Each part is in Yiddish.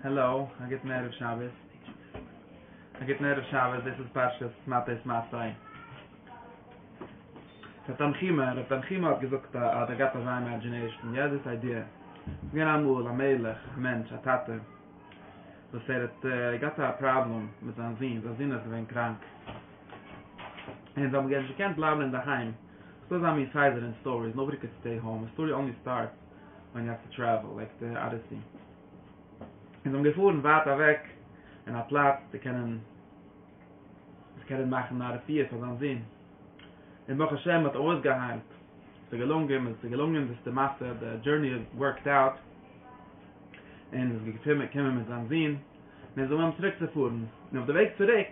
העלא, א גוטן ערב שבת. א גוטן ערב שבת, דאס איז פרשת מטות מסעי. ר' תנחומא, ר' תנחומא האט געזאגט א, האט געהאט אזא אימעדזשינעישן, יא דאס איידיע. ס'איז געווען אמאל א מלך, א מענטש, א טאטע, וואס ער האט געהאט א פראבלעם מיט זיין זון, זיין זון איז געווען קראנק, און זיי האבן נישט געקענט בלייבן אינדערהיים. ס'איז דא אזא מין סדר אין סטאריס, נאובאדי קען סטעי האום, סטארי אנלי סטארטס. ווען יו האוו טו טרעוול לייק די אדעסי און זיי האבן געפארן ווייט אוועק אין א פלאץ צו קענען צו קענען מאכן א רפואה פאר זיין זון און ברוך השם האט ער אויסגעהיילט עס איז געלונגען און עס איז געלונגען דאס די מעשה די דזשורני ווארקד אוט און עס איז געקומען מיט זיין זון און זיי זאגן אים צוריק צו פארן און אויף די וועג צוריק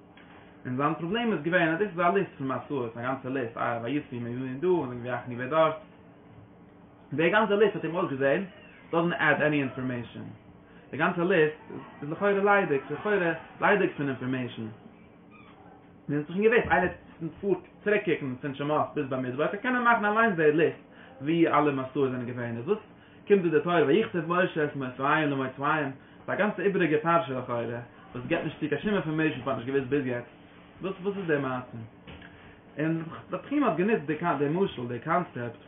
און זיין פראבלעם איז געווען אז דאס איז א ליסט פון מסעות, א גאנצע ליסט, אה, ויצבי מימין דא, און ויחני ווער דארט. די גאנצע ליסט האט אים אויסגעזען, דאזענט עד עני אינפארמעישאן. די גאנצע ליסט איז לכאורה ליידיג, ס'איז לכאורה ליידיג פון אינפארמעישאן. מיר האבן שוין געוואוסט, איינער וואס פארט צוריק קוקן פון שמות ביז במדבר, וועט ער קענען מאכן אליינס די ליסט וואו אלע מסעות זענען געווען, איז וואס? קומט דא די תואר ויכתוב משה את מופעים למוצאים ביי א גאנצע איבעריגע פרשה לכאורה וואס געבט נישט צו קיין שום אינפארמעישן פאר נישט געוויסט ביז יעצט וואס וואס איז די מעשה און די פכים האט גענוצט די די משל די קאנצעפט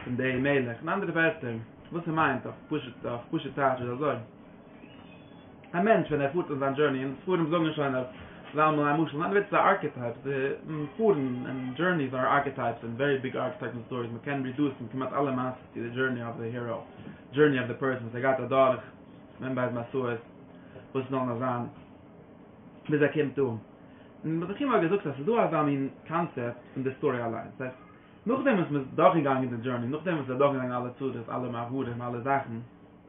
פון די מלך און אנדערע ווערטער וואס ער מיינט אויף פשוט אויף פשוט טייטש איז אזוי. א מענטש ווען ער פארט און זיין דזשורני און ספרים זאגן שוין אז ס'איז אלעמאל א משל, אנדערווייטס איז א ארקעטייפ, די פארן און דזשורניס אר ארקעטייפס און ווערי ביג ארקעטייפס און סטאריס, מ'קען רידוסן כמעט אלע מעשיות צו די דזשורני אוו די הירא, דזשורני אוו די פערסאן וואס ער גייט אדורך, ווען בייז מסעות וואס זאלן עס זיין, ביז ער קומט אן. און רבי עקיבא האט געזאגט אז ס'איז דא אזא מין קאנצעפט אין די סטארי אליין, דאס הייסט, נאכדעם וואס מ'איז דורכגעגאנגען די דזשורני, נאכדעם וואס ער איז דורכגעגאנגען אלע צרות, אלע מעברים, אלע זאכן,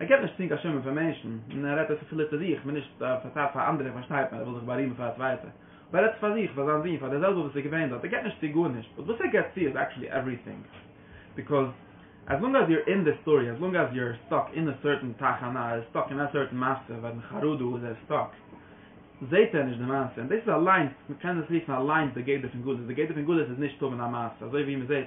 ער קען נישט צינקען שומען פון מענטשן, און ער רעדט אויסער פילוט צו זיך, מען נישט פארצייט פאר אנדערע, פארשטייט מען ער וויל זיך בארימען פאר א צווייטע, אבער ער רעדט פאר זיך, פאר זיין זון, פאר דער זעלבע וואס איז געווען דארט, ער געט נישט צו גארנישט, באט וואס ער געט צו איז עקשעלי עווריטינג, ביקאוז עז לאנג עז יו אר אין די סטארי, עז לאנג עז יו אר סטאק אין א סערטען תחנה, ער איז סטאק אין א סערטען מעשה, ווען אין חרדו איז ער סטאק, זעהט ער נישט די מעשה, און דאס איז אליינס, מען קען דאס רופן אליינס די גדר פון גלות, די גדר פון גלות איז נישט טון א מעשה, אזוי ווי מען זעהט.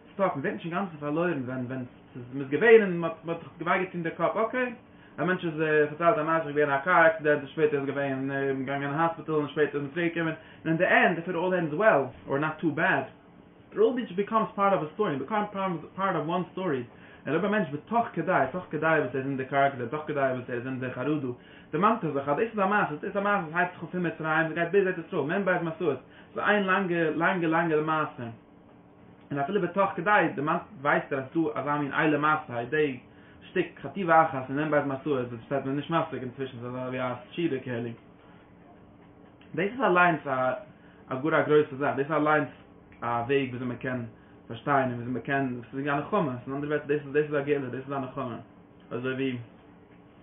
סטאפ, מ'ווערט נישט אינגאנצן פארלוירן ווען ווען ס'איז מ'איז געווען און מ'האט מ'האט זיך געוויי געטון די קאפ, אקעי, א מענטש איז פארציילט א מעשה געווען א קאר עקסידענט און שפעטער איז געווען געגאנגען אין האספיטאל און שפעטער איז מען צוריק געקומען און אין די ענד איף איט אלל ענדס וועל אר נאט טו בעד איט אלל ביטש ביקאמס פארט אוו א סטארי און ביקאמס פארט אוו וואן סטארי און אויב א מענטש וועט תוך כדי תוך כדי וואס ער איז אין די קאר עקסידענט תוך כדי וואס ער איז אין די חרדה דערמאנט ער זיך אז דאס איז א מעשה דאס איז א מעשה וואס הייבט זיך אן פון מצרים און גייט ביז ארץ ישראל מען בייז מען סאו עס איז איין לאנגע לאנגע לאנגע למעשה. און אפילו בתוך כדי דערמאנט ווייסט ער אז ס'דא אזא מין איילע מעשה היי דעי שטיק חטיבה אחת אין אין בית מסורת וואס פארשטייט מען נישט מספיק אינצווישן ס'איז אזא ווי א שיעור קעלעג דאס איז אליינס א א גאר א גרויסע זאך דאס איז אליינס א וועג וויאזוי מ'קען פארשטיין און וויאזוי מ'קען ס'איז ווי א נחמה ס'איז אין אנדערע ווערטער דאס איז דאס איז א גאולה דאס איז א נחמה אזוי ווי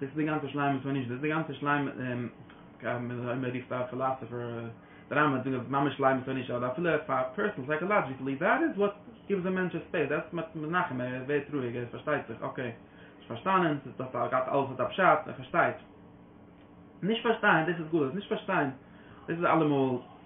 דאס איז די גאנצע שלימות פון נישט דאס איז די גאנצע שלימות אויב מען רופט א פילאסאפער דער רמב ם האט געזאגט ממש שלימות פון נישט אדער אפילו פאר פערסאנעל סייקאלאדזשיקלי דעט איז וואט גיווס א מענטש ספעיס דעטס וואט מען איז מנחם ער ווערט רואיג ער פארשטייט זיך אקעי נישט פארשטאנען ס'איז דאס א גאט אלעס האט א פשט ער פארשטייט נישט פארשטיין דאס איז גלות נישט פארשטיין דאס איז אלעמאל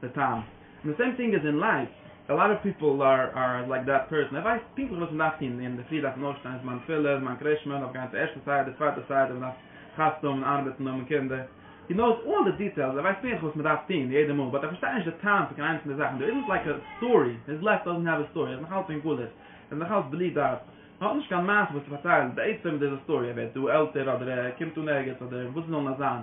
די טעם, און די סעים טינג איז אין לייף, א לאט אוו פיפל אר לייק דעט פערסאן, ער ווייסט פונקטליך וואס מען דארף טון, ווי אינדערפרי דארף מען אויפשטיין, זמן תפילה, זמן קרישמע, מען דארף גיין צו ערשטע סדר, צווייטע סדר, מען דארף חתונה האבן, ארבעטן, האבן קינדער, הי נאוס אלל די דיטעילס, ער ווייסט פונקטליך וואס מען דארף טון יעדע מאל, באט ער פארשטייט נישט די טעם פון קיין איינס פון די זאכן, דער איזנט לייק א סטארי, היז לייף דאזענט העוו א סטארי, ער איז נאכאלץ אין גלות, ער איז נאכאלץ בלי דעת, ער האט נישט קיין מעשה וואס צו פארציילן, בעצם דער איז א סטארי, ער ווערט דא עלטער אדער ער קומט אן ערגעץ אדער וואס עס זאל נאר זיין.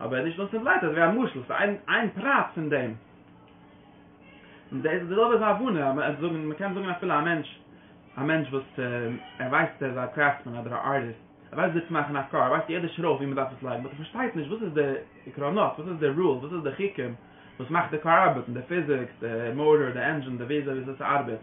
אבער נישט נאר סימפלייט אזויווי א משל ס'איז איין איין פרט פון דעם. און דאס איז די זעלבע איז הבנה מ'עט זאגן מ'קען זאגן אפילו א מענטש א מענטש וואס ער ווייסט ער איז א קרעפטסמען אדער א ארטיסט ער ווייסט וויאזוי צו מאכן א קאר ער ווייסט יעדע שרויף ווי מ'דארף עס לייגן באט ער פארשטייט נישט וואס איז די עקרונות וואס איז די רולס וואס איז די חוקים וואס מאכט די קאר ארבעטן די פיזיקס די מאטאר די ענדזשין די וויאזוי ווי אזוי ס'ארבעט.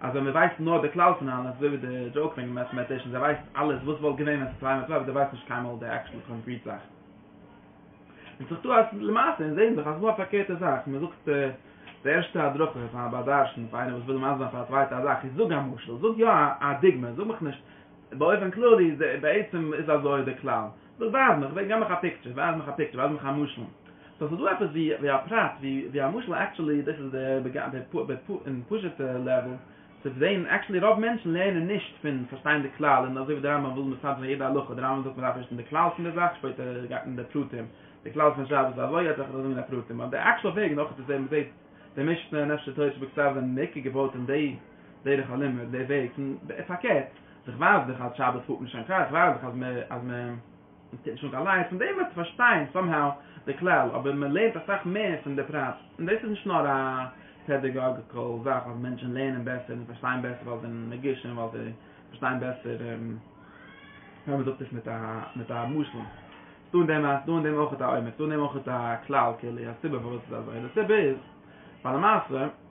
אז ווען מען ווייסט נאר די כלל פון אלעס, אזוי ווי די דזשאוק פון מעטעמעטישאנס, ער ווייסט אלעס וואס וואלט געווען ווען ס'איז צוויי מאל צוויי, אבער דער ווייסט נישט קיינמאל די עקשעל קאנקריט זאך. ווענדט זיך דא אז למעשה אונז זעהן דאך אז ס'נאר א פארקערטע זאך, מען זאגט די ערשטע הדרכה פאר א בר דרשן, פאר איינער וואס וויל מסביר פאר א צווייטע א זאך, איז זאג א משל, זאג יא א דוגמא, זאג מיך נישט, באופן כללי איז בעצם איז אזוי די כלל. דאס ווייז מיך, גיב מיך א פיקטשער, ווייז מיך א פיקטשער, ווייז מיך א משל. סאו ס'איז דא עפעס ווי א פרט, ווי א משל, עקטשעלי דאס איז די פשוט'ע לעוועל צו זעהן, עקטשעלי רוב מענטשן לערנען נישט פון פארשטיין די כלל, און אזוי ווי די רמב ם וויל מסדר זיין יעדע הלכה, די רמב ם זאגט מ'דארף ערשט זעהן די כלל פון די זאך, שפעטער גייט מען אין די פרטים, די כלל פון שבת איז אזוי, יעצט וועל איך אזוי זאגן אין די פרטים, אבער די עקטשעל וועג נאכער צו זעהן, מ'זעהט די משנה, נפש של תורה שבכתב זענען בעיקר געבויט אין די דרך הלימוד, די וועג פון פארקערט. איך ווייס דאך אז שבת פארט מען שוין קאר, איך ווייס דאך אז מען אז מען טוט נישט אן קיין לייטס, פון דעם וועסטו פארשטיין סאמהאו די כלל, אבער מען לערנט אסאך מער פון די פרט, און דאס איז נישט נאר א פעדעגאגיקעל זאך אז מענטשן לערנען בעסער און פארשטיין בעסער ווייל זיי זענען נגישים, ווייל זיי פארשטיין בעסער ווען מען זאגט עס מיט א מיט א משל, ס'איז דא אין דעם ס'איז דא אין דעם אויך א עומק, ס'איז דא אין דעם אויך א כלל כללי, א סיבה פארוואס ס'איז אזוי, און די סיבה איז ווייל למעשה.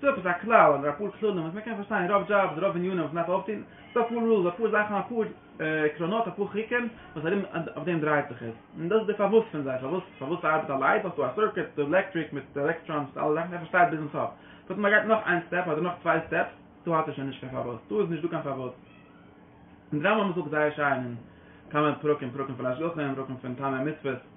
ס'דא עפעס א כלל אדער אפאר כללים וואס מען קען פארשטיין רוב דזשאבס רוב עניינים וואס מ'דארף אויפטון, ס'דא אפאר רולס אפאר זאכן אפאר עקרונות אפאר חוקים וואס ארום אויף דעם דרייט זיך עס, און דאס איז די פארוואס פון זיי פארוואס פארוואס ס'ארבעט א לייט האסטו א סורקוט די עלעקטריק מיט די עלעקטראנס מיט אלע זאכן ער פארשטייט ביזן סוף בעת ווען מ'גייט נאך איין סטעפ אדער נאך צוויי סטעפס דא האט ער שוין נישט קיין פארוואס דא איז נישט דא קיין פארוואס און די רמב ם זאגט זייער שיין אין כמה פרקים פרקים פון השגחה און פרקים פון טעמי מצוות.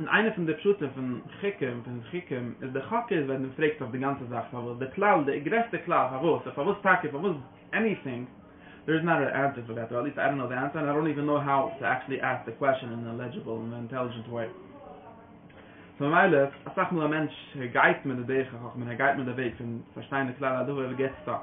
און איינע פון די פשטים פון חוקים פון חוקים איז די חק איז ווען מען פרעגט זיך די גאנצע זאך פארוואס די כלל די גרעסטע כלל פארוואס און פארוואס טאקע און פארוואס עניטינג דער איז נאט אן ענסער פאר דעט אר עטליסט איי דאנט נאו די ענסער ענד איי דאנט איווען נאו האו טו עקטשעלי עסק די קוועשען אין א לעדזשיבעל און אינטעלידזשענט וועי סאו ממילא אסאך מאל א מענטש ער גייט מיט די דרך החכמה און ער גייט מיט די וועג פון פארשטיין די כלל אדער וואטעווער ער געט סטאק.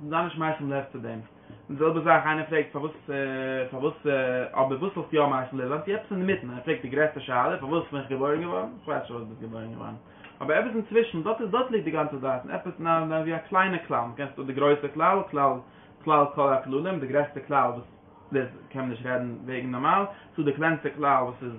און זיי נישט מייסם לב צו דעם. די זעלבע זאך איינער פרעגט פארוואס פארוואס אבער וואס האסטו יא מייסם לב זיינט איר עפעס אינמיטן ער פרעגט די גרעסטע שאלה פארוואס בין איך געבוירן געווארן איך ווייס שוין פארוואס ביסט געבוירן געווארן אבער עפעס אינצווישן דארט איז דארט ליגט די גאנצע דעת און עפעס נ א ווי א קליינע כלל מען קענסט האט די גרויסע כלל כלל כלל כל הכללים די גרעסטע כלל וואס דאס קען מען נישט רעדן וועגן נארמאל צו די קלענסטע כלל וואס איז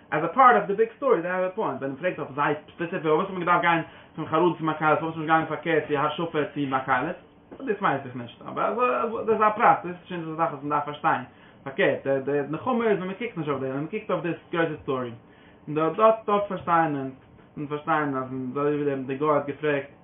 עז א פארט אוו די ביג סטארי זיי האבען א פוינט ווען מ'פרעגט אויף זיי ספעסיפיק פארוואס האט מען געדארפט גיין פון חרדים צו מקהלות פארוואס איז נישט געגאנגען פארקערט צו השפע צו מקהלות דאס ווייס איך נישט אבער דאס איז א פרט דאס איז שוין א זאך וואס מ'דארף פארשטיין פארקערט די די נחמה איז ווען מ'קוקט נישט אויף דעם ווען מ'קוקט אויף די גרויסע סטארי דארט דארט פארשטיין אונז אונז פארשטיין אז אזוי ווי דער גוי האט געפרעגט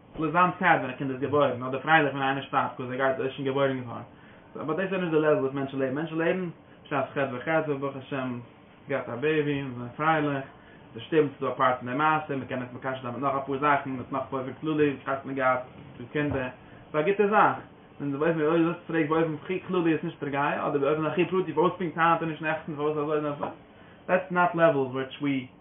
זאל ער זיין סעד ווען א קינד איז געבוירן, אדער פרייליך ווען איינער שטארבט קויז ער גייט ער איז שוין געבוירן געווארן. באט דאס איז דאך נישט די לעוול וואס מענטשן לעבן. מענטשן לעבן בשעת ח' וח' וואס ברוך השם עס גייט א בעיבי און זיי זענען פרייליך. ס'איז שטומט ס'איז דא א פארט פון די מעשה, מ'קען עס מקשר זיין מיט נאך אפאר זאכן, מיט נאך באופן כללי וואס הייסט מען געהאט צו קינדער. ס'איז א גוטע זאך. און באופן ווי אויב דו פרעגסט באופן הכי כללי איז נישט פגעיה, אדער באופן הכי פרטי פארוואס פונקט היינט און נישט נעכטן, פארוואס אזוי און אזוי. דעטס נאט לעוועל וויטש ווי.